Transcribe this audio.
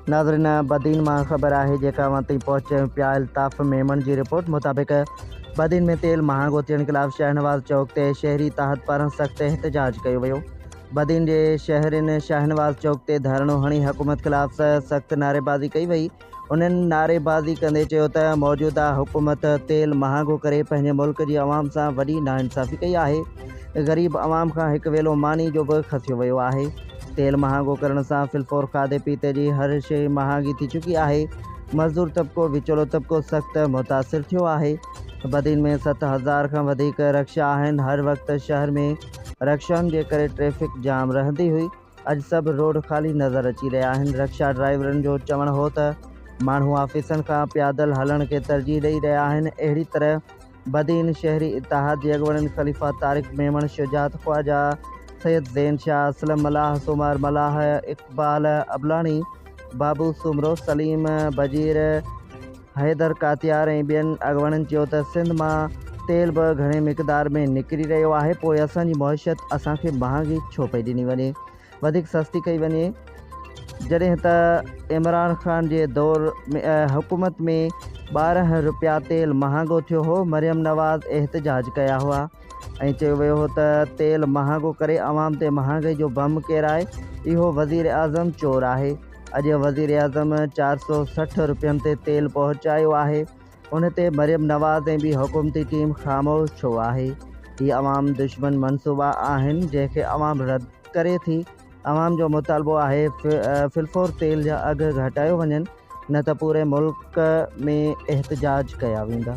ناظرين بدين مان خبر آهي جيڪا اوهان تائين پهچي پيا الطاف ميمڻ جي رپورٽ مطابق بدين ۾ تيل مهانگو ٿيڻ خلاف شاهنواز چوڪ تي شهري تحت پاران سخت احتجاج ڪيو ويو بدين جي شهرين شاهنواز چوڪ تي ڌرڻو هڻي حڪومت خلاف سخت نعريبازي ڪئي وئي انهن نعريبازي ڪندي چيو ته موجوده حڪومت تيل مهانگو ڪري پنهنجي ملڪ جي عوام سان وڏي ناانصافي ڪئي آهي، غريب عوام کان هڪ ويلو ماني جو به کسيو ويو آهي، تيل مهانگو ڪرڻ سان في الفور کاڌي پيتي جي هر شيء مهانگي ٿي چڪي آهي، مزدور طبقو وچولو طبقو سخت متاثر ٿيو آهي، بدين ۾ ست هزار کان وڌيڪ رڪشا آهن، هر وقت شهر ۾ رڪشائن جي ڪري ٽريفڪ جام رهندي هئي. اڄ سڀ روڊ خالي نظر اچي رهيا آهن رڪشا ڊرائيورن جو چوڻ هو ته ماڻهو آفيسن کان پيادل هلڻ کي ترجيح ڏئي رهيا آهن اهڙي طرح بدين شهري اتحاد جي اڳوڻن خليفا طارق ميمڻ شجاعت خواجا سيد زين شاهه اسلم ملاح سومار ملاح اقبال ابلاڻي بابو سومرو سليم بجير حيدر ڪاتيار ۽ ٻين اڳواڻن چيو ته سنڌ مان تيل به گهڻي مقدار ۾ نڪري رهيو آهي پوء اسان جي معيشت اسان کي مهانگي ڇو پئي ڏني وڃي وڌيڪ سستي ڪئي وڃي جڏهن ته عمران خان جي دور حڪومت ۾ ٻارهن روپيا تيل مهانگو ٿيو هو مريم نواز احتجاج ڪيا هئا ۽ چيو ويو هو ته تيل مهانگو ڪري عوام تي مهانگي جو بم ڪيرائي اهو وزير اعظم چور آهي اڄ وزيراعظم چار سؤ سٺ روپين تي تيل پهچايو آهي ان تي مريم نواز ۽ ٻي حڪومتي ٽيم خاموش ڇو آهي هي عوام دشمن منصوبا آهن جنهن کي عوام رد ڪري ٿي عوام جو مطالبو آهي فلفور تيل جا اگهه گهٽايو وڃن نه ته پوري ملڪ ۾ احتجاج ڪيا ويندا